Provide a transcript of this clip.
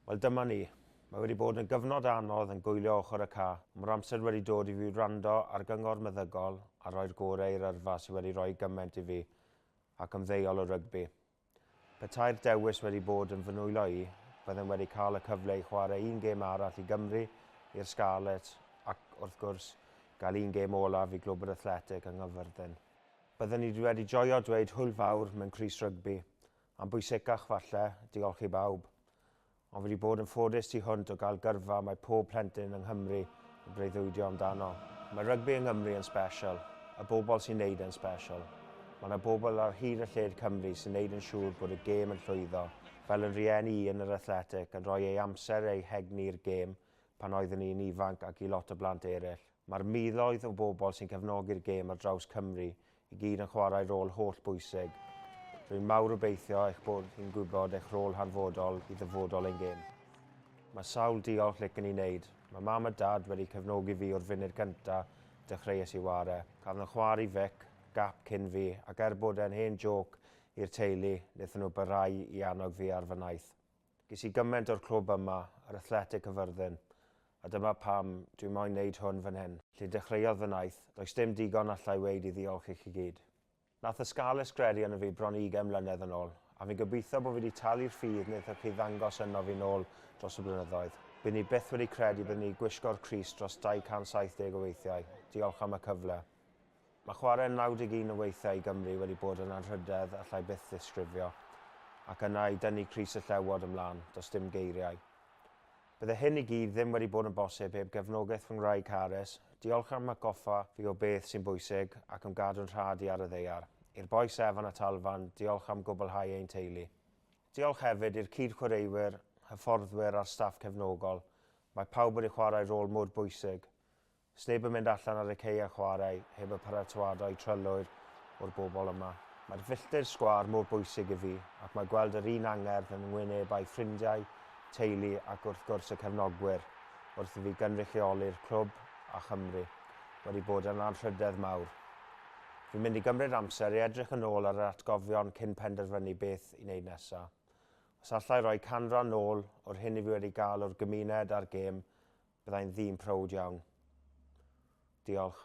Wel dyma ni. Mae wedi bod yn gyfnod anodd yn gwylio ochr y ca. Mae'r amser wedi dod i fi wrando ar gyngor meddygol a rhoi'r gore i'r yrfa sydd wedi rhoi gymaint i fi ac ymddeol o rygbi. Petai'r dewis wedi bod yn fy nwylo i, byddem wedi cael y cyfle i chwarae un gêm arall i Gymru, i'r Scarlets ac, wrth gwrs, gael un gêm olaf i Glwb yr Athletic yng Nghyfyrddin. Bydden ni wedi joio dweud hwyl fawr mewn crys rygbi, A'n bwysicach falle, diolch i bawb. Ond fi 'di bod yn ffodus tu hwnt o gael gyrfa mae pob plentyn yng Nghymru yn breuddwydio amdano. Mae rygbi yng Nghymru yn special, y bobl sy'n neud e'n special. Mae 'na bobl ar hyd a lled Cymru sy'n neud yn siŵr bod y gêm yn llwyddo. Fel yn rieni i yn yr Athletic, yn rhoi ei amser a'i hegni i'r gêm pan oeddwn i'n ifanc ac i lot o blant eraill. Mae'r miloedd o bobl sy'n cefnogi'r gêm ar draws Cymru i gyd yn chwarae rôl holl bwysig. Rwy'n mawr obeithio eich bod chi'n gwybod eich rôl hanfodol i ddyfodol ein gêm. Mae sawl diolch lic yn ei wneud. Mae mam a dad wedi cefnogi fi o'r funud cyntaf dechreuais i ware. Cafon nhw chwarae Vic, Gap cyn fi, ac er bod e'n hen jôc i'r teulu, wnaethon nhw barhau i annog fi ar fy nhaith. Ges i gymaint o'r clwb yma, yr Athletic Cyfyrddin, a dyma pam dwi moyn neud hwn fan hyn. Lle dechreuodd fy naith, does dim digon allai weud i ddiolch i chi gyd. Nath y Scarlets gredu arno fi bron i ugain mlynedd yn ôl, a fi'n gobeithio bo fi di talu'r ffydd nethoch chi ddangos ynof fi nôl dros y blynyddoedd. Bydden i byth wedi credu bydden i gwisgo'r crys dros 270 o weithiau, diolch am y cyfle. Mae chwarae'n 91 o weithiau i Gymru wedi bod yn anrhydedd allai byth ddisgrifio, ac yna i dynnu crys y Llewod ymlaen, does dim geiriau. Bydde hyn i gyd ddim wedi bod yn bosib heb gefnogaeth fy ngwraig Harris, diolch am atgoffa fi o beth sy'n bwysig ac am gadw'n rhad i ar y ddaear. I'r bois Evan a Talfan, diolch am gwblhau ein teulu. Diolch hefyd i'r cyd-chwaraewyr, hyfforddwyr a'r staff cefnogol, mae pawb wedi chwarae rôl mor bwysig. Sneb yn mynd allan ar y cei a chwarae heb y paratoadau trylwyr o'r bobl yma. Mae'r filltir sgwâr mor bwysig i fi ac mae gweld yr un angerdd yn ngwynebau ffrindiau, teulu ac wrth gwrs y cefnogwyr wrth i fi gynrychioli'r clwb a Chymru wedi bod yn anrhydedd mawr. Fi'n mynd i gymryd amser i edrych yn ôl ar yr atgofion cyn penderfynu beth i wneud nesaf. Os alla i roi canran nôl o'r hyn i fi wedi gael o'r gymuned a'r gêm, Byddai'n ddyn prowd iawn. Diolch.